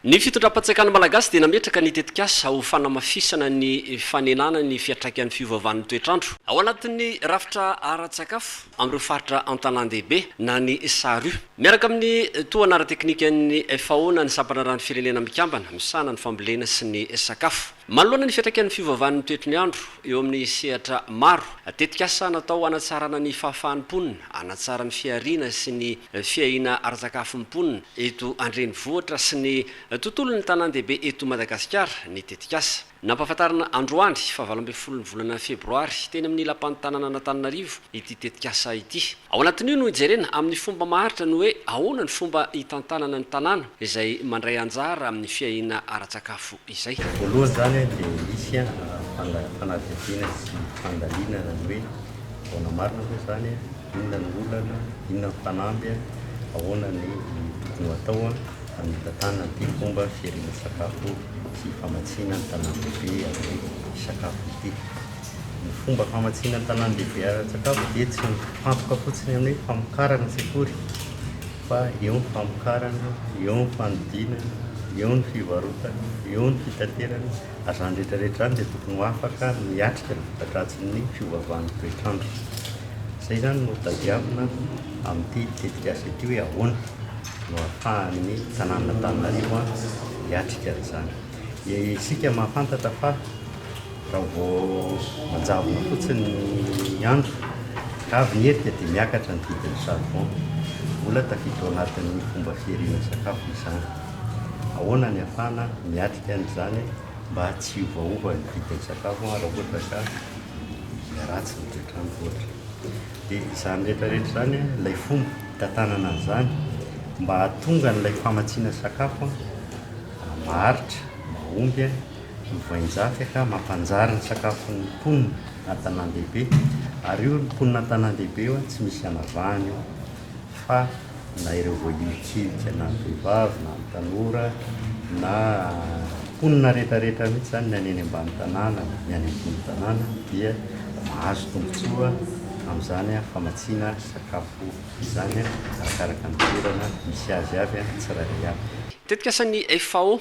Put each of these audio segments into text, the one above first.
Ny fitondram-pantsakan'ny Malagasy dia nametraka ny tetikasa ho fanamafisana ny fanenana ny fiantraikan'ny fiovaovan'ny toetr'andro. Ao anatin'ny rafitra ara-tsakafo amin'ireo faritra an-tanàn-dehibe na ny SARU. Miaraka amin'ny tohana ara-teknikan'ny FAO na ny Sampandraharahan'ny Firenena Mikambana misahana ny fambolena sy ny sakafo. Manoloana ny fiantraikan'ny fiovaovan'ny toetry ny andro eo amin'ny sehatra maro, tetikasa natao hanatsarana ny fahafahan'ny mponina hanatsara ny fihariana sy ny fiahiana ara-tsakafon'ny mponina eto an-drenivohitra sy ny tontolon'ny tanàn-dehibe eto Madagasikara ny tetikasa. Nampahafantarina androany faha valo ambin'ny folo ny volana febroary teny amin'ny lapan'ny tanànan'Antananarivo ity tetikasa ity. Ao anatin'io no hijerena amin'ny fomba maharitra ny hoe ahoana ny fomba hitantanana ny tanàna izay mandray anjara amin'ny fiahiana ara-tsakafo izay. Voalohany izany dia misy fanadihadiana sy fandalinana ny hoe ahoana marina moa izany, inona no olana, inona ny fanamby, ahoana ny tokony ho atao hamitantanana ity fomba fiahiana sakafo sy famatsiana ny tanàn-dehibe amin'ny sakafo ity. Ny fomba famatsiana an-tanàn-dehibe ara-tsakafo dia tsy mifantoka fotsiny amin'ny hoe famokarana ny sekoly fa eo ny famokarana, eo ny fanodinana, eo ny fivarotana, eo ny fitaterana ary izany rehetra rehetra izany dia tokony ho afaka miatrika ny voka-dratsin'ny fiovaovan'ny toetr'andro. Izay izany no tadiavina amin'ity tetikasa ity hoe ahoana no ahafahan'ny tanànan'Antananarivo hiatrika an'izany. Dia isika mahafantatra fa. Raha vao manjavona fotsiny ny andro ka avy ny hety dia miakatra ny vidin'ny charbon. Mbola tafiditra ao anatin'ny fomba fihariana sakafo izany. Ahoana ny hahafahana miatrika an'izany mba tsy hiovaova ny vidin'ny sakafo raha ohatra ka miharatsy ny toetr'andro ohatra. Dia izany rehetrarehetra izany, ilay fomba hitantanana an'izany mba hahatonga an'ilay famatsiana sakafo maharitra, mahomby. ny voainjaty ka mampanjary ny sakafon'ny mponina an-tanàn-dehibe ary io ny mponina an-tanàn-dehibe io tsy misy anavahany io fa na ireo voahilikilika na ny vehivavy na ny tanora na mponina rehetrarehetra mihitsy izany ny any eny ambany tanàna ny any ambony tanàna dia mahazo tombontsoa amin'izany famatsiana sakafo izany arakaraka ny toerana misy azy avy ny tsirairay avy. Tetikasa ny FAO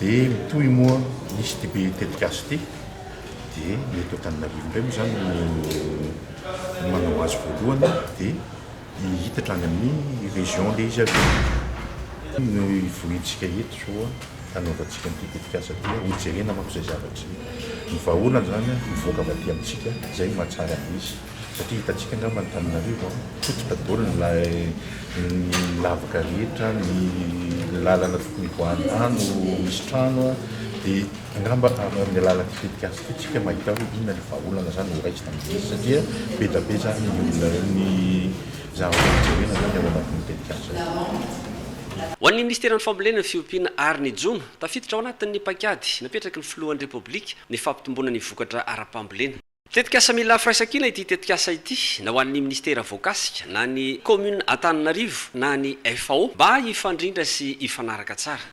Dia mitohy moa hisy ity be tetikasa ity, dia ny eto Antananarivo indray moa izany no manao azy voalohany dia hihitatra any amin'ny région ilay izy avy eo. Ny hivohintsika eto izao hanaovantsika an'ity tetikasa ity, hojerena manko izay zavatra izay. Ny vahaolana izany mivoaka avy aty amintsika, izay no mahatsara an'izy. Satria hitantsika angamba Antananarivo an, potika daholo ny ny lavaka rehetra, ny lalana tokony hivoahan'ny rano misy trano an, dia angamba amin'ny alalan'ity tetikasa ity tsika mahita hoe inona ilay vahaolana zany ho raisina amin'izy satria be da be zany ny olona ny zavatra jerena zany ao anatin'io tetikasa io. Ho an'ny Minisiteran'ny Fambolena, Fiompiana ary ny Jono, tafiditra ao anatin'ny paikady napetraky ny Filohan'ny Repoblika ny fampitomboana ny vokatra ara-pambolena. Tetikasa mila firaisankina ity tetikasa ity na ho an'ny Minisitera voakasika, na ny Kaominina Antananarivo na ny FAO mba hifandrindra sy hifanaraka tsara.